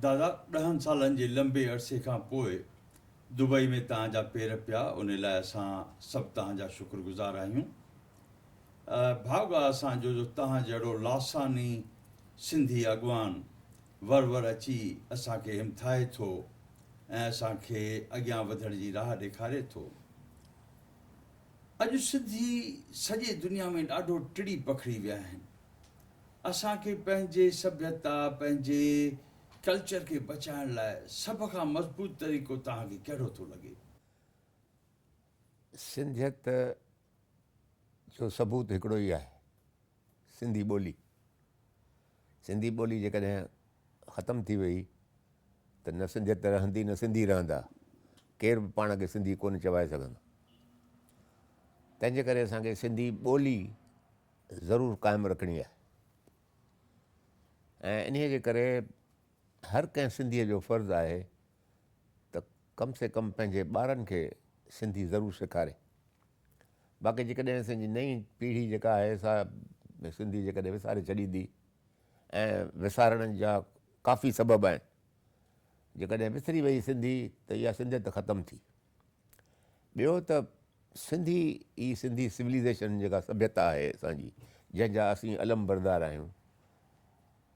دادا ڏهن سالن جي لنبي عرصي کان پوء دبئي ۾ توهان جا پير پيا ان لاء اسان سڀ توهان جا شڪر گذار آهيون ڀاڳا اسان جو جو توهان جهڙو لاساني سنڌي اڳواڻ ور ور اچي اسان کي همٿائي ٿو ۽ اسان کي اڳيان وڌڻ جي راهه ڏيکاري ٿو اڄ سنڌي سڄي دنيا ۾ ڏاڍو ٽڙي پکڙي ويا آهن. اسان کي پنهنجي سڀيتا، پنهنجي ڪلچر کي بچائڻ لاء سڀ کان مضبوط طريقو توهان کي ڪهڙو ٿو لڳي؟ سنڌيت جو ثبوت هڪڙو ئي آهي سنڌي ٻولي، سنڌي ٻولي جيڪڏهن ختم ٿي وئي ته نه سنڌيت رهندي نه سنڌي رهندا، ڪير به پاڻ کي سنڌي ڪونه چوائي سگهندو. تنهنجي ڪري اسان کي سنڌي ٻولي ضرور قائم رکڻي آهي ۽ انهيء جي ڪري هر ڪنهن سنڌيء جو فرض آهي ته ڪم سي ڪم پنهنجي ٻارن کي سنڌي ضرور سيکاري. باقي جيڪڏهن اسان جي نئين پيڙهي جيڪا آهي سا سنڌي جيڪڏهن وساري ڇڏيندي ۽ وسارڻ جا ڪافي سبب آهن جيڪڏهن وسري وئي سنڌي ته اها سنڌيت ختم ٿي ٻيو ته سنڌي ئي سنڌي سوليزيشن جيڪا سڀيتا آهي اسان جي جنهن جا اسين علم بردار آهيون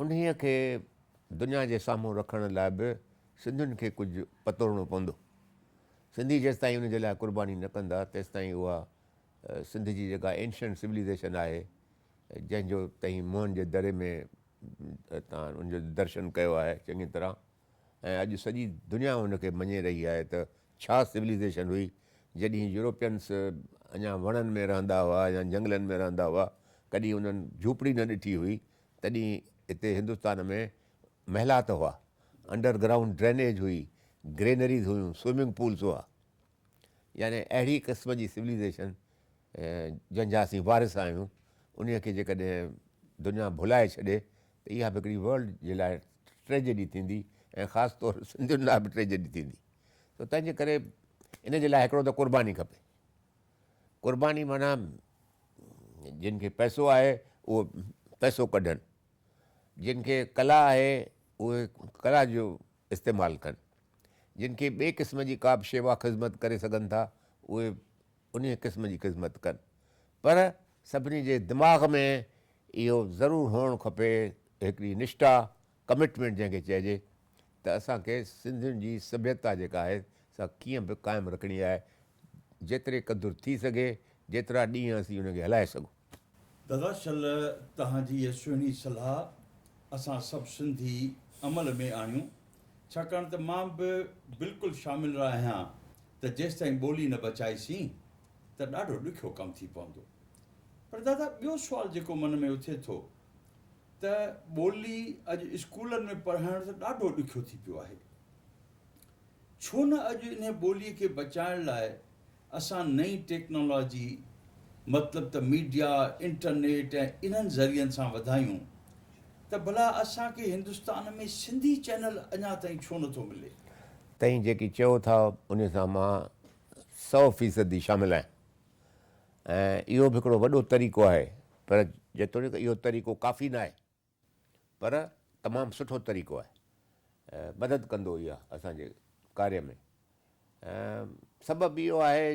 انهيء کي دنيا جي سامهون رکڻ لاء به سنڌين کي ڪجهه پتوڙڻو پوندو. سنڌي جيستائين ان جي لاء قرباني نه ڪندا تيستائين اها سنڌ جي جيڪا Ancient Civilization آهي جنهن جو تهين موهن جي دري ۾ تان ان جو درشن ڪيو آهي چڱي طرح ۽ اڄ سڄي دنيا ان کي مڃي رهي آهي ته ڇا Civilization هئي جڏهين Europeans اڃا وڻن ۾ رهندا هئا يا جهنگلن ۾ رهندا هئا ڪڏهين انهن جهوپڙي نه ڏٺي هئي تڏهن هتي هندستان ۾ محلات هئا، انڊر گرائونڊ ڊرينيج هئي، گرينريز هيون، سوئمنگ پولز هئا. يعني اهڙي قسم جي سوليزيشن جنهن جا اسين وارث آهيون انهي کي جيڪڏهن دنيا ڀلائي ڇڏي ته اها به هڪڙي ورلڊ جي لاء ٽريجڊي ٿيندي ۽ خاص طور سنڌين لاء به ٽريجڊي ٿيندي. سو تنهن جي ڪري ان جي لاء هڪڙو ته قرباني کپي. قرباني معنيٰ جن کي پئسو آهي اهي پئسو ڪڍن، جن کي ڪلا آهي اهي ڪلا جو استعمال ڪن، جن کي ٻئي قسم جي ڪا به شيوا خذمت ڪري سگهن ٿا اهي انهيء قسم جي خذمت ڪن پر سڀني جي دماغ ۾ اهو ضرور هئڻ کپي ته هڪڙي نشٺا، Commitment، جنهن کي چئجي ته اسان کي سنڌين جي سڀيتا جيڪا آهي سا ڪيئن به قائم رکڻي آهي جيتري قدر ٿي سگهي، جيترا ڏينهن اسين ان کي هلائي سگهون. دادا شل توهان جي هيء سهڻي صلاح اسان سڀ سنڌي عمل ۾ آڻيون ڇاڪاڻ ته مان به بلڪل شامل رهايان ته جيستائين ٻولي نه بچائي سين ته ڏاڍو ڏکيو ڪم ٿي پوندو پر دادا ٻيو سوال جيڪو من ۾ اٿي ٿو ته ٻولي اڄ اسڪولن ۾ پڙهائڻ ته ڏاڍو ڏکيو ٿي پيو آهي ڇو نه اڄ انهي ٻوليء کي بچائڻ لاء اسان نئين ٽيڪنالاجي مطلب ته ميڊيا، انٽرنيٽ ۽ انهن ذريعن سان وڌايون ته ڀلا اسان کي هندستان ۾ سنڌي چينل اڃا تائين ڇو نٿو ملي؟ تهين جيڪي چئو ٿا انهي سان مان سئو فيصدي شامل آهيان ۽ اهو به هڪڙو وڏو طريقو آهي پر جيتوڻيڪ اهو طريقو ڪافي ناهي. پر تمام سٺو طريقو آهي مدد ڪندو اها اسان جي ڪاري ۾ سبب اهو آهي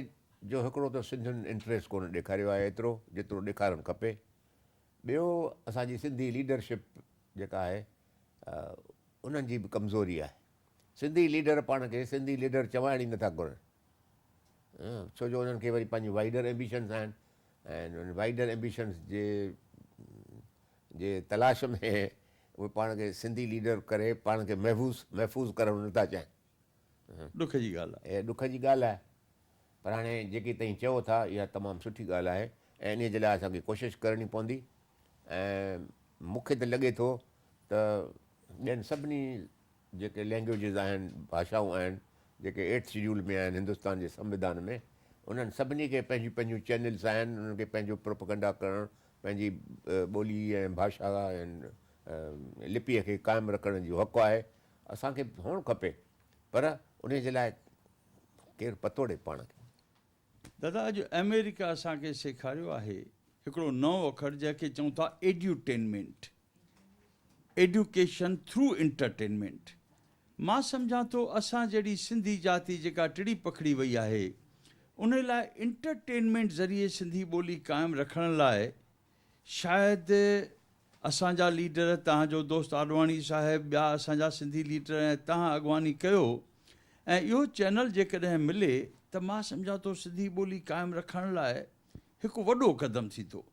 جو هڪڙو ته سنڌين انٽريس ڪونه ڏيکاريو آهي ايترو جيترو ڏيکارڻ کپي ٻيو اسان جي سنڌي ليڊرشپ جيڪا آهي انهن جي به ڪمزوري آهي سنڌي ليڊر پاڻ کي سنڌي ليڊر چوائڻ ئي نٿا گهرن ڇو جو انهن کي وري پنهنجي وائڊر ايمبيشنس آهن وائڊر ايمبيشنس جي جي تلاش ۾ اهي پاڻ کي سنڌي ليڊر ڪري پاڻ کي محفوظ محفوظ ڪرڻ نه ٿا چاهين. ڏک جي ڳالهه آهي. ڏک جي ڳالهه آهي پر هاڻي جيڪي تهين چئو ٿا اها تمام سٺي ڳالهه آهي ۽ انهي جي لاء اسان کي ڪوشش ڪرڻي پوندي ۽ مون کي ته لڳي ٿو ته ٻين سڀني جيڪي لينگويجز آهن، ڀاشائون آهن، جيڪي ايٽ شيڊيول ۾ آهن هندستان جي سنوڌان ۾، انهن سڀني کي پنهنجيون پنهنجيون چينلز آهن، انهن کي پنهنجو پروپيگنڊا ڪرڻ، پنهنجي ٻولي ۽ ڀاشا ۽ لپيء کي قائم رکڻ جو حق آهي، اسان کي به هئڻ کپي، پر انهي جي لاء ڪير پتوڙي پاڻ کي؟ دادا اڄ آمريڪا اسان کي سيکاريو آهي هڪڙو نئون اکر جنهن کي چئون ٿا ايڊيوٽينمينٽ ايڊيوڪيشن ٿرو انٽرٽينمينٽ مان سمجهان ٿو اسان جهڙي سنڌي جاتي جيڪا ٽڙي پکڙي وئي آهي انهي لاء انٽرٽينمينٽ ذريعي سنڌي ٻولي قائم رکڻ لاء شايد اسان جا ليڊر، توهان جو دوست آڏواڻي صاحب، ٻيا اسان جا سنڌي ليڊر ۽ توهان اڳواڻي ڪيو ۽ اهو چينل جيڪڏهن ملي ته مان سمجهان ٿو سنڌي ٻولي قائم رکڻ لاء هڪ وڏو قدم ٿيندو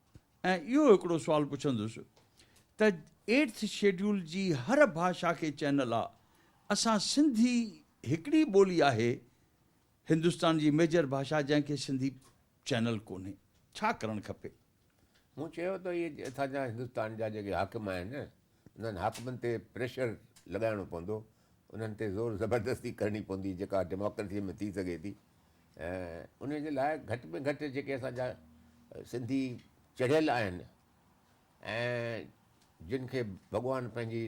۽ اهو هڪڙو سوال پڇندس ته ايٽٿ شيڊيول جي هر ڀاشا کي چينل آ اسان سنڌي هڪڙي ٻولي آهي هندستان جي ميجر ڀاشا جنهن کي سنڌي چينل ڪونهي ڇا ڪرڻ کپي. مون چيو ته اهي اتان جا هندستان جا جيڪي حاڪم آهن انهن حاڪمن تي پريشر لڳائڻو پوندو انهن تي زور زبردستي ڪرڻي پوندي جيڪا ڊيموڪريسي ۾ ٿي سگهي ٿي ۽ ان جي لاء گهٽ ۾ گهٽ جيڪي اسان جا سنڌي چڙهيل آهن ۽ جن کي ڀڳوان پنهنجي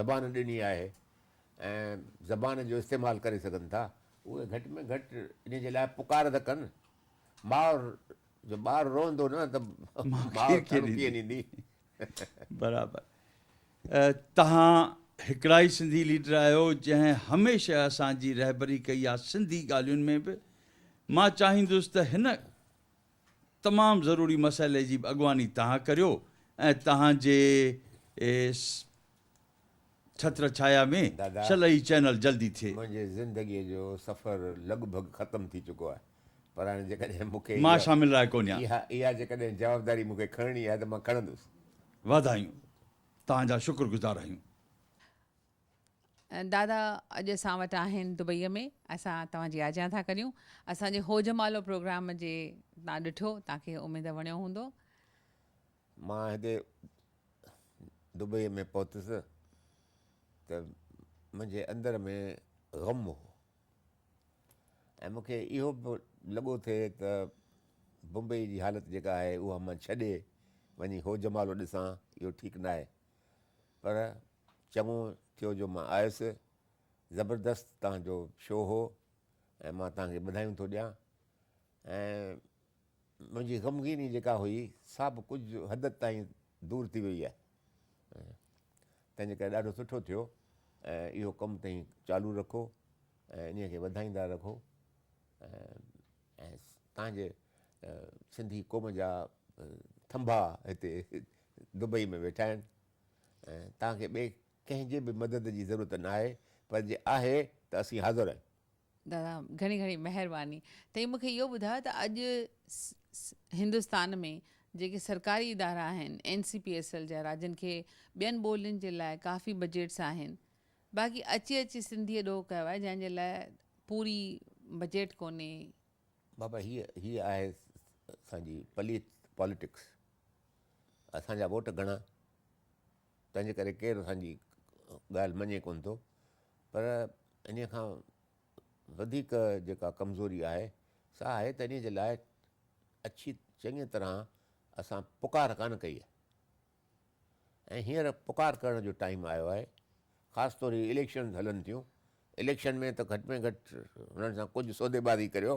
زبان ڏني آهي ۽ زبان جو استعمال ڪري سگهن ٿا، اهي گهٽ ۾ گهٽ ان جي لاء پڪار ته ڪن. ماء جو ٻار روئندو نه ته ماء ٿڙ ڪيئن ڏيندي؟ برابر. تهان هڪڙا ئي سنڌي ليڊر آهيو جنهن هميشه اسان جي رهبري ڪئي آ سنڌي ڳالهين ۾ به مان چاهيندس ته هن تمام ضروري مسئلي جي به اڳواڻي تهان ڪريو ۽ تهان جي ڇتر ڇايا ۾ دادا شل هي چينل جلدي ٿئي. منهنجي زندگي جو سفر لڳ ڀڳ ختم ٿي چڪو آهي پر هاڻي جيڪڏهن مون کي مان شامل رهي ڪونهيان. اها اها جيڪڏهن جوابداري مون کي کڻڻي آهي ته مان کڻندس. واڌايون توهان جا شڪر گذار آهيون. دادا اڄ اسان وٽ آهن دبئي ۾ اسان توهان جي آجيان ٿا ڪريون اسان جي هوجمالو پروگرام جي تان ڏٺو تان کي اميد وڻيو هوندو. مان هتي دبئيء ۾ پهتس ته منهنجي اندر ۾ غم هو ۽ مون کي اهو به لڳو ٿي ته بمبئيء جي حالت جيڪا آهي اها مان ڇڏي وڃي هو جمالو ڏسان اهو ٺيڪ ناهي. پر چڱو ٿيو جو مان آيس. زبردست توهان جو شو هو ۽ مان توهان کي ٻڌايون ٿو ڏيان ۽ منهنجي غمگيني جيڪا هئي سا به ڪجهه حد تائين دور ٿي وئي آهي تنهنجي ڪري ڏاڍو سٺو ٿيو ۽ اهو ڪم تئين چالو رکو ۽ انهيء کي وڌائيندا رکو ۽ تان جي سنڌي قوم جا ٿنڀا هتي دبئي ۾ ويٺا آهن ۽ تان کي ٻئي ڪنهن جي به مدد جي ضرورت ناهي پر جي آهي ته اسين حاضر آهيون. دادا گهڻي گهڻي مهرباني. تنهن مون کي اهو ٻڌايو ته اڄ هندستان ۾ جيڪي سرڪاري ادارا آهن N C P S L جا راڄن کي ٻين ٻولين جي لاء ڪافي بجيٽس آهن باقي اچي اچي سنڌي ڏوهه ڪيو آهي جنهن جي لاء پوري بجيٽ ڪونهي. بابا هي هي آهي اسان جي پليت پاليٽڪس اسان جا ووٽ گهڻا. تنهن جي ڪري ڪير اسان جي ڳالهه مڃي ڪونه ٿو پر انهيء کان وڌيڪ جيڪا ڪمزوري آهي سا آهي ته انهيء جي لاء اڇي چڱيء طرح اسان پڪار ڪانه ڪئي آهي ۽ هينئر پڪار ڪرڻ جو ٽائيم آيو آهي خاص طور هي اليڪشنز هلن ٿيون اليڪشن ۾ ته گهٽ ۾ گهٽ هنن سان ڪجهه سودي بازي ڪريو